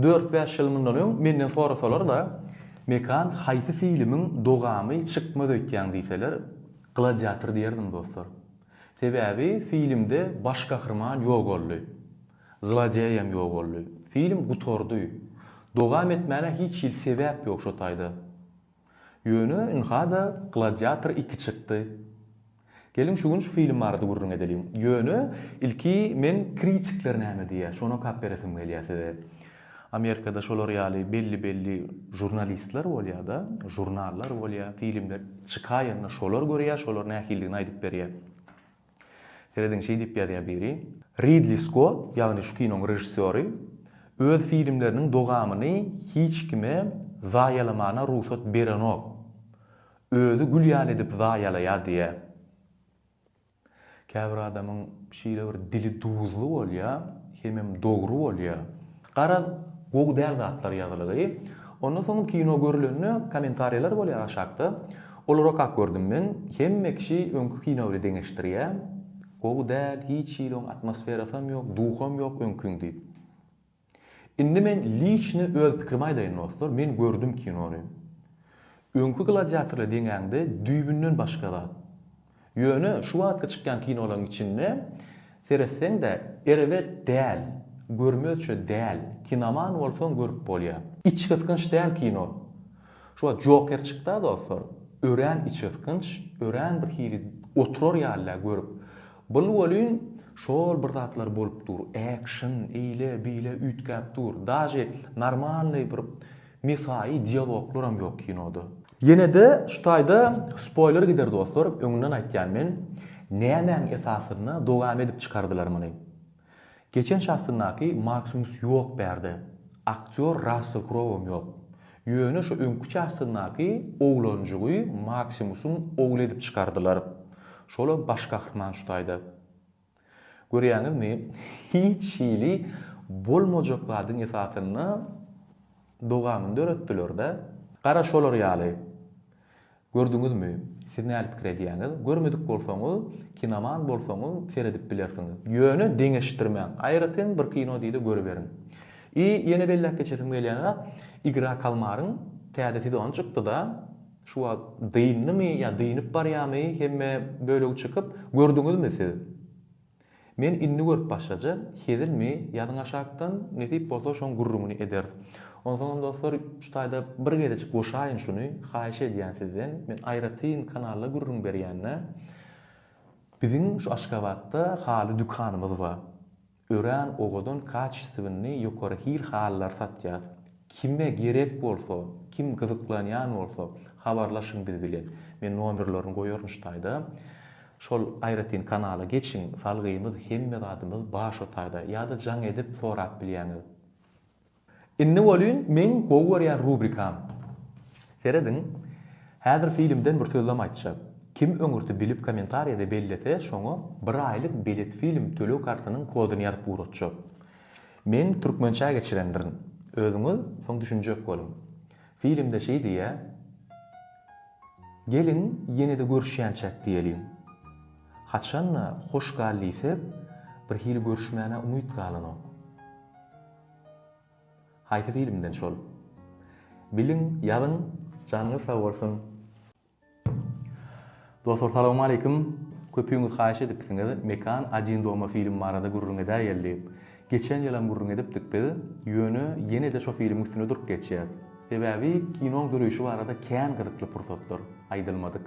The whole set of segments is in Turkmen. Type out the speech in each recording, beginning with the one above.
Dört-bäş ýyl mundan öň menden sorasalar-da, Mekan, haýsy filmiň dogamy çykmaz öýtýäň diýseler, Gladiator diýerdim dostlar. Sebäbi filmde baş gahryman ýok boldy. Zlodeýem ýok boldy. Film gutardy. Dogam etmäne hiç hili sebäp ýok şo taýda. Ýöne ynha-da Gladiator iki çykdy. Geliň şu gün şu film barada gürrüň edeliň. Ýöne ilki men kritikler näme diýýär, şony okap beresim gelýär size. Amerikada şolar ýaly belli-belli žurnalistler bolýar-da, žurnallar bolýar, filmler çykaýanda şolar görýär, şolar nähilidigini aýdyp berýär. Serediň şeý diýip ýazýar biri, Ridli Skott, ýagny şu kinoň režissýory, öz filmleriniň dogamyny hiç kime zaýalamana rugsat berenok. Özi gül ýaly edip zaýalaýar diýýär. Käbir adamyň şeýle bir dili duzly bolýar, hemem dogry bolýar. Garaz, gowy däl zatlar ýazylygy. Ondan soňam kino görülende kommentariýalar bolýar aşakda. Olarakak gördüm men. Hemme kişi öňki kino bile deňeşdirýä. Gowy däl, hiç hili oň atmosferasam ýok, duham ýok öňkiň diýip. Indi men liçny öz pikrimi aýdaýyn dostlar, men gördüm kinony. Öňki gladiatorly deňäňde düýbünden başga zat. Ýöne şu wagtky çykýan kinolaryň içinde seretseň-de erbet däl, görmezçe däl, kinoman bolsaň görüp bolýar. Içgysgynç däl kino. Şu wagt Joker çykda dostlar, örän içgysgynç, örän bir hili oturar ýaly-da görüp. Bul welin şol bir zatlar bolup dur, ekşn, eýle, beýle üýtgäp dur. Daže normalnyý bir mesaýy dialoglaram ýok kinoda. Ýenede şu taýda spoýler gider dostlar öňünden aýtýan men nämäň esasynda dowam edip çykardylar muny. Geçen çastynaky Maksimus ýok bärde, aktýor Rassel Krouam ýok. Ýöne şu öňki çastynaky oglanjygy Maksimusyň ogly edip çykardylar. Şolam baş gahryman şu taýda. Görýäňizmi, hiç hili bolmajak zadyň esasynda dowamyny döretdiler-de. Gara şolar ýaly. Gördüňizmi, siz näli pikir edýäňiz? Görmedik bolsaňyz, kinoman bolsaňyz seredip bilersiňiz. Ýöne deňeşdirmäň. Aýratyn bir kino diýde görüberiň. I ýene belläp geçesim gelýän zat, Igra kalmaryň täze sezony çykdy-da. Şu wagt dyndymy ýa dynyp barýamy hemme bölegi çykyp gördüňizmi siz. Men indi görüp başlaja hezilmi ýazyň aşakdan nesip bolsa şoň gürrüňini ederis. Onsoňam dostlar şu taýda bir gezejik goşaýyn şuny haýyş edýän sizden men aýratyn kanalda gürrüň berýände biziň şu Aşgabatda haly dükanymyz bar. Örän owadan kaçestwinli ýokary hil halylary satýas. Kime gerek bolsa, kim gyzyklanýan bolsa, habarlaşyň biz bilen. Men nomerlerini goýaryn şu taýda. Şol aýratyn kanala geçiň, salgymyz hemme zadymyz bar şu taýda. Ýa-da jaň edip sorap bilýäňiz. Indi welin meň gowy görýän rubrikam. Serediň, häzir filmden bir sözlem aýtjak. Kim öňürti bilip kommentariýada bellese, şoňa bir aýlyk bilet film töleg kartynyň koduny ýazyp ugratjak. Men türkmençä geçirendirin. Özüňiz soň düşünjek boluň. Filmde şeý diýýä, Geliň, ýene-de görüşýänçäk diýeliň. Haçan-da hoş gal diýsek, birhili görüşmäne umyt galanok. Haýsy filmden şol. Biliň ýazyň janyňyz sag bolsun. Dostlar salawmaleýkim köpüňiz haýyş edipsiňiz Mekan Adin doma film barada gürrüň edäýeli. Geçen ýylam gürrüň edipdik biz, ýöne ýene-de şo filmiň üstüne durup geçýäs. Sebäbi kinoň döreýşi barada kän gyzykly pursatlar aýdylmadyk.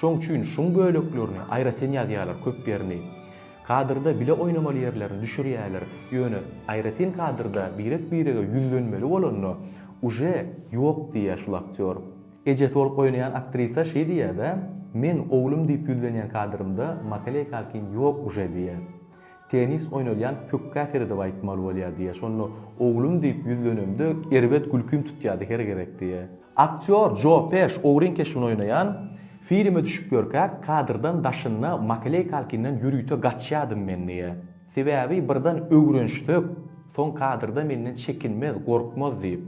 Şoň üçin şuň böleklerini aýratyn ýazýarlar köp ýerini. Kadrda bile oýnamaly ýerlerini düşürýärler, ýöne aýratyn kadrda birek birege ýüzlenmeli bolanda uje ýok diýýä şul aktýor. Ejesi bolup oýnaýan aktrisa şeý diýýäda, meň oglum diýip ýüzlenýän kadrymda makaleykalkin ýok uje diýýä. Tennis oýnalýan pökgä seredip aýtmaly bolýar diýýär. Şonda oglum diýip ýüzlenemde erbet gülkim tutýardy her gezek diýýär. Aktýor Jo Peş ogryň keşbini oýnaýan filme düşüp ýörkä kadrdan daşynda Makaley Kalkinden ýörite gaçýardym men diýýär. Sebäbi birden öwrenşsek, soň kadrda menden çekinmez, gorkmaz diýip.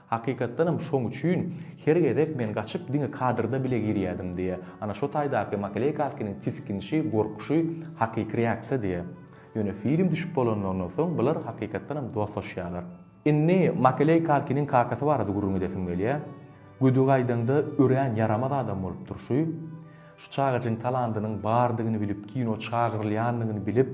Hakykatdanam şoň üçin her gezek men gaçyp diňe kadrda bile girýädim diýe. Ana şo taýdaky Makleykalkiniň tisginişi, gorkuşy hakyky reaksiýa diýe. Ýöne film düşüp bolanlaryndan soň bular hakykatdanam dostlaşýarlar. Indi Makeleykalkiniň kakasy barada gürrüň edesim gelýär. Gödügaýdaňda örän ýaramaz adam bolup durşy. Şu çagajygyň talandynyň bardygyny bilip kino çagyrylýandygyny bilip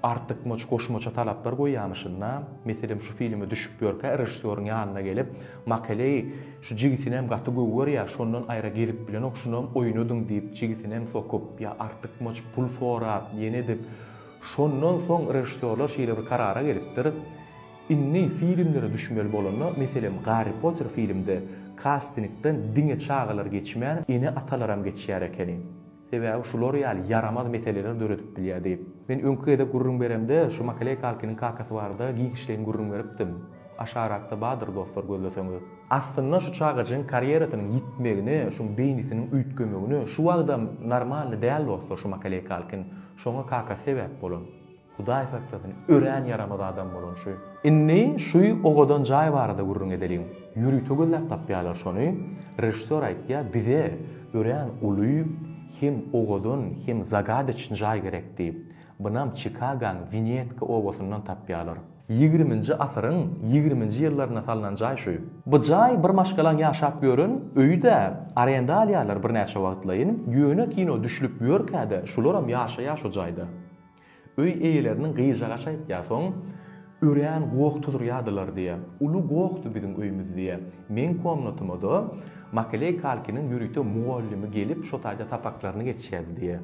artykmaç goşmaça talaplar goýýamyşyn-da, meselem şu filme düşüp ýörkä režissýoryň ýanyna gelip, Makeleý, şu jigisinem gaty gowy görýär, şondan aýra gezip bilenok, şunam oýnadyň diýip jigisinem sokup, ýa artykmaç pul sorap, ýene edip, şondan soň režissýorlar şeýle bir karara gelipdir, Indi filmlere düşmeli bolanda, meselem Garri Potter filmde kastingden diňe çagalar geçmän, ene-atalaram geçýär ekeni. Sebäbi şular ýaly ýaramaz meseleler döredip bilýär diýip. Men öňki gezek gürrüň beremde şu Makaley Kalkiniň kakasy barada giňişleýin gürrüň beripdim. Aşarakda bardyr dostlar gözleseňiz. Aslynda şu çagajygyň karýerasynyň ýitmegine şuň beýnisiniň üýtgemegine şu wagtam normalny däl dostlar şu Makaley Kalkin. Şoňa kakasy sebäp bolan. Hudaý saklasyn, örän ýaramaz adam bolan şu. Indi şu owadan jaý barada gürrüň edeliň. Ýörite gözläp tapýarlar şony. Režissýor aýtýar, bize örän uly, hem owadan, hem zagadeçny jaý gerek diýip. Bunam Çikagoň Winetka obasyndan tapýarlar. Ýigriminji asyryň ýigriminji ýyllarynda salnan jaý şu. Bu jaý bir maşgalaň ýaşap ýören öýi-dä. Arenda alýarlar birnäçe wagtlaýyn. Ýöne kino düşlüp ýörkä-de, şularam ýaşaýar şu jaýda. Öý eýeleriniň gyjagaşy aýtýar, soň örän goh tuzurýadylar diýýär. Uly gohdy biziň öýümiz diýýär. Meň komnatyma-da Makeley Kalkiniň ýörite mugallymy gelip, şo taýda sapaklaryny geçýärdi diýýär.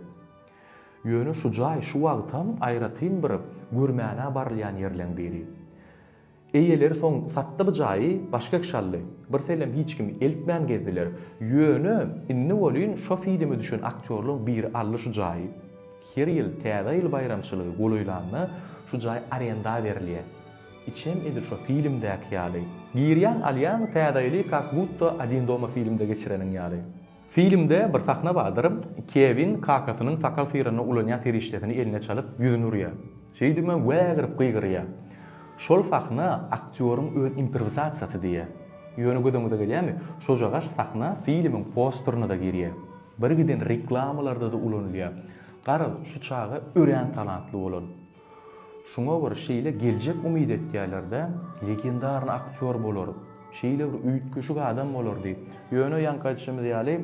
Ýöne şu jaý şu wagtam aýratyn bir görmäne barylýan ýerleň biri. Eýeleri soň satdy bu jaýy, başga kişi aldy. Birseýlem hiç kim eltmän gezdiler. Ýöne, indi welin şo filme düşen aktýorlaň biri aldy şu jaýy. Her ýyl Täze ýyl baýramçylygy golaýlanda şu jaý arenda berilýär. Içem edil şo filmdäki ýaly. Girýäň, alýaň, Täze ýyly kak-butda Odin doma filmde geçireniň ýaly. Filmde bir sahna bardyr, Kewin kakasynyň sakal syranda ulanýan serişdesini eline çalyp, ýüzüni urýar. Şeýdibem wägirip gygyrýar. Şol sahna aktýoryň öz improwizasiýasy diýýär. Ýöne gözüňize gelýärmi, şojagaş sahna filmiň posterine-de girýär. Birgiden reklamalarda-da ulanylýar. Garaz, şu çaga örän talantly bolan. Şuňa bir şeýle geljek umyt etýärlerdä, legendarny aktýor bolar, şeýle bir üýtgeşik adam bolar diýip. Ýöne ýaňky aýdyşymyz ýaly,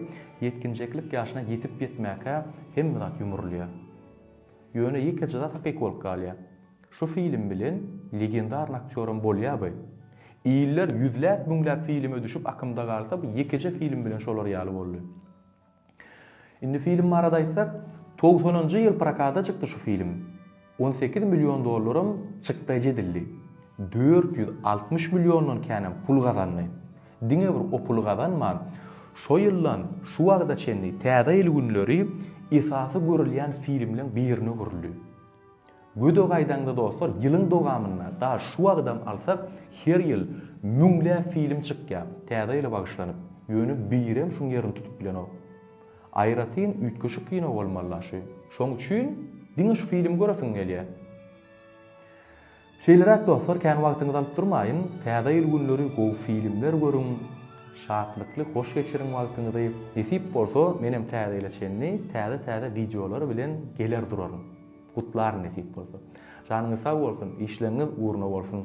ýetginjeklik ýaşyna ýetip-ýetmäkä hemme zat ýumrulýar. Ýöne ýekeje zat hakyky bolup galýar. Şu film bilen legendarny aktýoram bolýarby? Iller ýüzläp-müňläp filme düşüp akymda galsa, bu ýekeje film bilen şolar ýaly boldy. Indi film barada aýtsak, togsanynjy ýyl prokata çykdy şu film. On sekiz million dollaram çykdaýjy edildi. Dört ýüz altmyş milliondan känem pul gazandy. Diňe bir o puly gazanman, şo ýyldan şu wagta çenli Täze ýyl günleri esasy görülýän filmleň birine öwrüldi. Gödä gaýdaňda dostlar ýylyň dowamynda daş şu wagydam alsak her ýyl müňläp film çykýar täze ýyla bagyşlanyp ýöne birem şuň ýerini tutup bilenok. Aýratyn üýtgeşik kino bolmalyla şu. Şoň üçin diňe şu filmi göresiň gelýär. Şeýleräk dostlar kän wagtyňyzy alyp durmaýyn, Täze ýyl günleri gowy filmler görüň, şatlykly hoş geçiriň wagtyňyzy, nesip bolsa menem Täze ýyla çenli täze täze wideolar bilen geler duraryn. Gutlaryn nesip bolsa. Janyňyz sag bolsun, işleňňiz ugruna bolsun.